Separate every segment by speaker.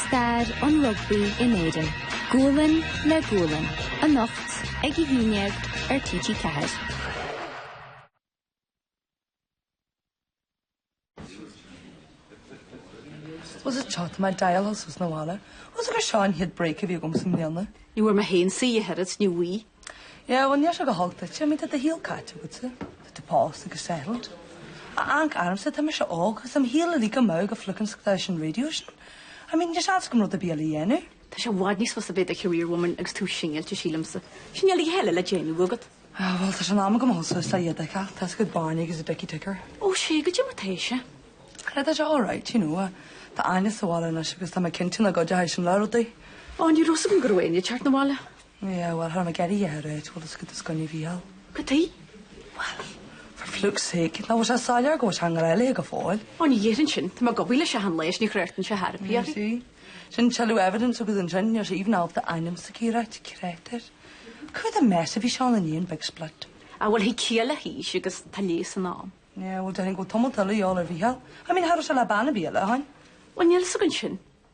Speaker 1: Stair an rugbaí in Éirinn, gualainn le gualainn, anocht ag a haon déag ar TG4. Bhfuil a
Speaker 2: fhios agat, tá mé ag dul suas an bhalla. Bhfuil a fhios agat gur seo an chéad break a bhí agamsa i mbliana. Ní bhfuair mé féin
Speaker 3: saoire ach oiread, ní bhfuair. Yeah, well níl
Speaker 2: sé go holc duitse, I mean tá do shaol caite agat, tá tú pósta agus settled. Amharc ormsa, tá mise óg agus tá mo shaol uilig amú ag an flickin' stáisiún raidió sin. I mean níl seans agam rud ar bith eile a dhéanamh. Tá sé i bhfad níos fusa
Speaker 3: bheith i do career woman agus tú singillte sílimse. Sin uilig atá le déanamh agat. Ah, bhuel tá sé in
Speaker 2: am agam a dhul suas le iad a fheiceáil, tá siad ag baint agus a dicky ticker. Ó sea, goidé
Speaker 3: mar atá sé? Creid tá sé
Speaker 2: alright, you know, tá Áine sa bhaile anois agus tá mé cinnte go gcuideoidh sin le rudaí. Ó ní raibh 's agam
Speaker 3: go raibh Áine ag teacht 'na bhaile. Yeah, well, thar
Speaker 2: na gealaí atá ré, tú agus go do scoinne Mhícheál. Goidé? Well, for flukes sake, nach bhfuil sé soiléir go bhfuil sé i ngrá léi go fóill. Ó, ní dhéarfainn sin, tá mé
Speaker 3: ag obair le seal leis, ní thráchtann sé ar chor ar bith
Speaker 2: uirthi. Sin tuilleadh evidence agus ansin níl sé even ábalta a hainm a rá, créatúr. Cad a mess a bhí seán in aon big split? Ah, well, thig ciall
Speaker 3: le haois agus tá leigheas in am. Yeah, well, déarfainn go bhfuil
Speaker 2: tamall eile de dhíobháil ar Mhícheál. I mean, cha raibh sé le bean ar bith eile ó shin. Well, níl fhios againn
Speaker 3: sin.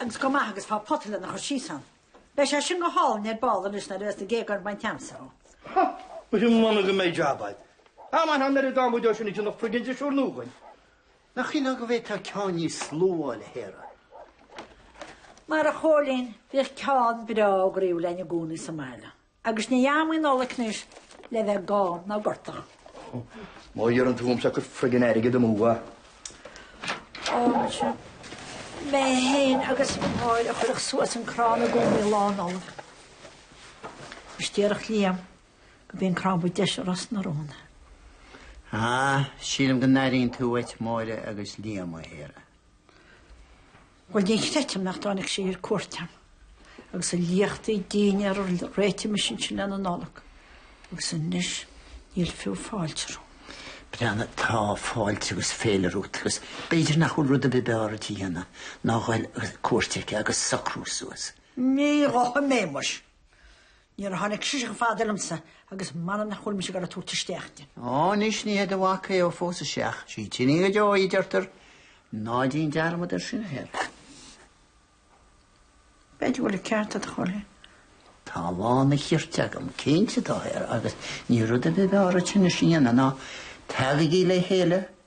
Speaker 4: Agus go maith agus faigh pota lena chur síos ann, beidh sé sin go hálainn ar ball anois nuair a bheas na géaga bainte agamsa dhó. Há!
Speaker 5: Muise m'anam go mbeidh jab agat. A mhac, tá an oiread adhmaid ansin a dhéanfadh friggin' drisiúr nua dhúinn. Nach
Speaker 6: sílfeá go bhféadfá ceann níos lú a fháil, a
Speaker 4: Sharah? Mar a Chóilín, bhíodh ceann breá groíúil againne i gcónaí sa mbaile. Agus ní ham í an Nollaig anois le bheith gann ná gortach.
Speaker 5: Má iarrann tú ormsa cur friggin' airgead amú. Ó sea, mé
Speaker 4: fhéin agus Máire a chuirfeadh suas an crann i gcónaí Lá Nollag. Is déarfadh Liam gurbh é an crann ba deise i Ros na Rún.
Speaker 6: Ah, sílim go n-airíonn tú uait Máire agus Liam, a Sharah.
Speaker 4: Bhuel, ní chreidim nach dtáinig sé ar cuairt agam, agus a liachtaí dinnéar a réitigh mise ansin le haghaidh na Nollag, agus anois níl fiú fáilte romham.
Speaker 6: M'anam tá fáilte agus féile romhat, agus b'fhéidir nach bhfuil rud ar bith ab fhearr dhuit a dhéanamh ná a dhul ar cuairt aici agus socrú suas. Ní
Speaker 4: ghabhfaidh mé, muis. Níor tháinig sise chomh fada liomsa, agus m'anam nach bhfuil mise ag goil ag tabhairt isteach di. Ó, anois ní hé
Speaker 6: do mhac é ó phósfas sé ach sí d'iníon go deo í, deirtear. Ná déan dearmad air sin, a Sharah.
Speaker 4: B'fhéidir go bhfuil an ceart agat, a Chóilín.
Speaker 6: Tá lán an chirt agam, cinnte tá, a Sharah, agus níl rud ar bith ab fhearr dhúinn anois a dhéanamh ná, Tagaigí le chéile,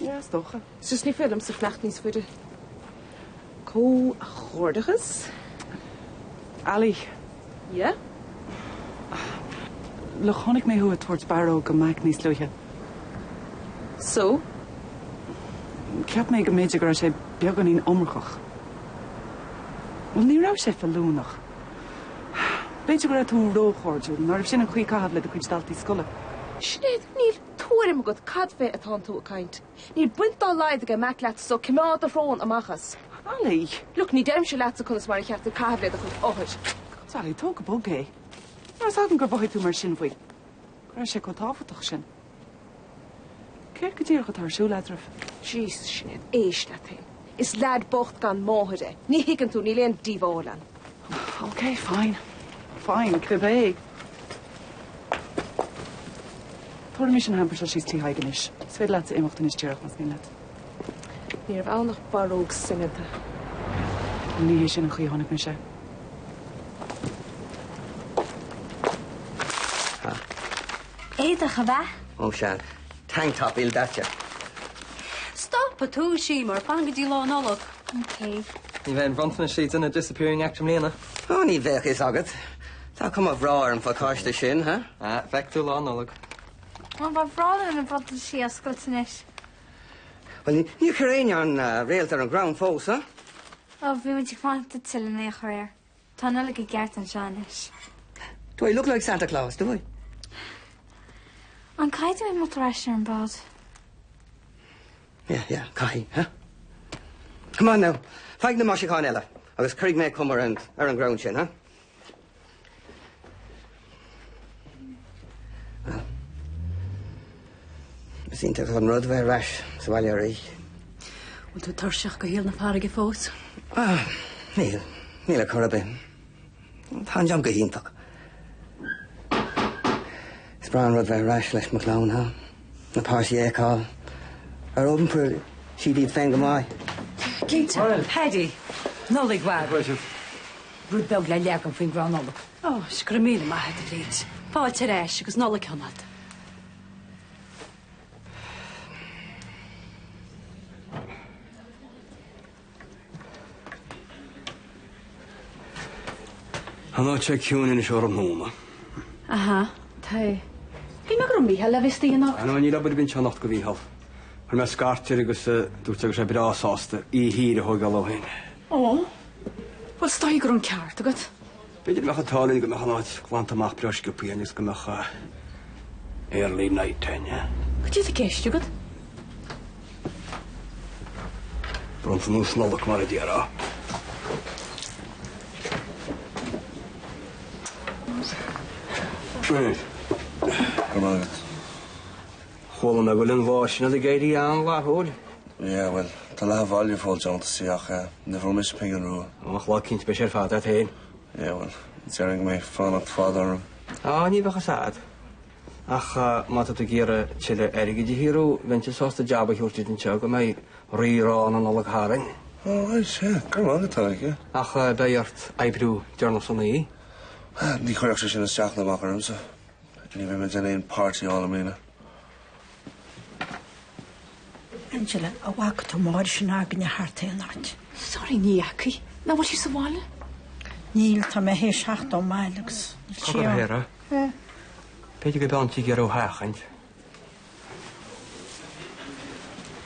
Speaker 3: Yeah,
Speaker 7: is
Speaker 3: dócha. Is just ní féidir liomsa fanacht níos faide.
Speaker 7: Comhghairdeachas. Ali. Yeah? Look, chonaic mé thú ag tabhairt barróg do Mack níos luaithe. So? Cheap mé go mb'fhéidir go raibh sé beagáinín iomarcach. Bhuel ní raibh sé feiliúnach. B'fhéidir go raibh tú róchairdiúil, ní ab in an chaoi caitheamh le do chuid daltaí scoile. Sinéad,
Speaker 3: níl. Tuairim agat cad fé atánn tú ag caint? Níl baint dá laghad aige Mack leat so coimeád do shrón amach as. Ali! Look,
Speaker 7: ní deirimse
Speaker 3: leatsa conas mar ba cheart duit caitheamh le do chuid othair. Ali, tóg go
Speaker 7: bog é. Marab amhlaidh gur mhothaigh tú mar sin faoi? Go raibh sé chomh tábhachtach sin? Céard go díreach atá ar siúl eadraibh? Jees, Sinéad,
Speaker 3: éist leat féin. Is leaid bocht gan máthair é. Ní thuigeann tú, níl aon díobháil ann.
Speaker 7: OK, fine. Fine, cibé. Tabharfaimis an hamper seo síos Tí Thaidhg anois. Is féidir leatsa imeacht anois díreach más mian leat. Ní raibh
Speaker 3: ann ach barróg soineanta.
Speaker 7: Ní hé sin an chaoi a chonaic
Speaker 8: mise é. Éadach ab ea? Ó sea,
Speaker 6: tank top ildaite.
Speaker 8: Stop ag tomhas, mar fan go dtí Lá Nollag. Ok. Ní bheidh an
Speaker 9: bronntanas ag déanamh Disappearing Act i mbliana. Ó, ní bheadh
Speaker 6: fhios agat. Tá cuma bhreá ar an phacáiste sin, ha? Ah, feicfidh tú Lá Nollag.
Speaker 9: Má
Speaker 8: ba bhreá liom na bronntanaisí a oscailt
Speaker 6: anois. Bhuel, ní níor chuir éinne an réalt ar an gcrann fós, ha? Ó, bhí muid
Speaker 8: ag fanacht duitse len é a chur air. Tá an Nollaig i gceart anseo anois. Do
Speaker 6: I look like Santa Claus, do I? An
Speaker 8: caithfidh mé é ar ais ar an mbád?
Speaker 6: Yeah, yeah, caithfidh, huh? Come on now, faigh na maisiúcháin eile agus cuirfidh muid cuma ar an, ar an gcrann sin, huh? Is iontach an rud bheith ar ais sa bhaile arís. Bhfuil tú
Speaker 4: tuirseach de shaol na farraige fós?
Speaker 6: Ah, níl ar chor ar bith. Tá ag éirí liom go hiontach. Is breá an rud bheith ar ais le mo chlann, ha? Na páistí a fheiceáil. Ar iompair siad iad féin go maith? Cinnte.
Speaker 4: Paddy, Nollaig mhór. Rud beag le leagan faoin gCrann Nollag. Ó, is go raibh míle maith agat, Liz. Fáilte ar ais agus Nollaig mhaith.
Speaker 10: Tá an áit seo ciúin anois tráthnóna.
Speaker 11: Aha, tá. Shíl mé go raibh Micheál le bheith istigh anocht. Á, níl obair ar bith
Speaker 10: anocht do Mhícheál. Chuir mé scairt air agus dúirt sé go raibh sé breá sásta oíche shaor a thógáil dó féin. Ó,
Speaker 11: bhuel is dóigh go raibh an ceart agat. B'fhéidir go mbeadh an
Speaker 10: t-ádh linn go mbeadh an áit glanta amach breá sciobtha agus go mbeadh early night againne. Cad é atá i gceist
Speaker 11: agat?
Speaker 10: Bónas Nollag mar a déarfá. Brilliant. I
Speaker 12: love it.
Speaker 10: Chuala mé go bhfuil an boss sin ag éirí an-fhlaithiúil. Yeah,
Speaker 12: bhuel, tá leath an bhaile ag fáil deontas ach eh, ní bhfuair mise pingin rua. Ó, ach lá eicínt beidh sé
Speaker 10: ar fad a'd fhéin. Yeah,
Speaker 12: bhuel, déarfainn go mbeidh fanacht fada orm. Á, ní bheadh a fhios
Speaker 10: a'd. Ach eh, má tá tú ag iarraidh tuilleadh airgid a shaothrú, bheinnse sásta jab a thabhairt duit anseo go mbeidh Rí-Rá na Nollag tharainn. Ó, raight,
Speaker 12: yeah, go raibh maith agat, a Oige. Ach eh, beidh ort
Speaker 10: oibriú deireanach san oíche. Ní chuirfeadh
Speaker 12: sé sin isteach ná amach ormsa. Ní bheidh mé ag déanamh aon party-áil i mbliana.
Speaker 4: Angela, An bhfaca tú Máire sin againne thart aon áit. Sorry, ní fhaca.
Speaker 11: Nach bhfuil sí sa bhaile?
Speaker 4: Níl, tá mé théis theacht ón mbaile agus níl sí ann. Cogar, a Shéamais, Eh?
Speaker 10: B'fhéidir go bhfuil sí ag iarraidh thú a sheachaint.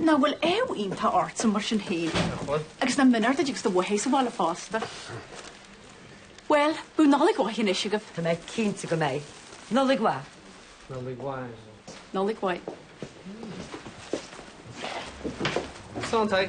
Speaker 3: Nach bhfuil aoibh iontach ortsa mar sin féin? Agus an mí-ádh ar Dee agus í uaithi sa bhaile fosta. Bhuel, bíodh Nollaig mhaith anois agaibh! Tá mé cinnte
Speaker 11: go mbeidh. Nollaig mhaith! Nollaig
Speaker 3: mhaith. Nollaig
Speaker 9: mhaith. Santaí!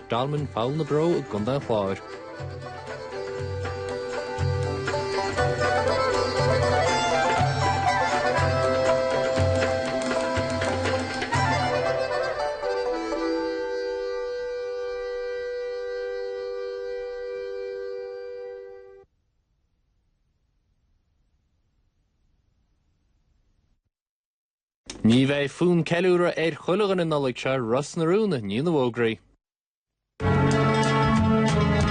Speaker 13: Dolmen, Pholl na Brón i gContae an Chláir. Ní bheidh fonn ceiliúradh ar chuile dhuine an Nollaig seo, Ros na Rún, i ndiaidh na bhfógraí.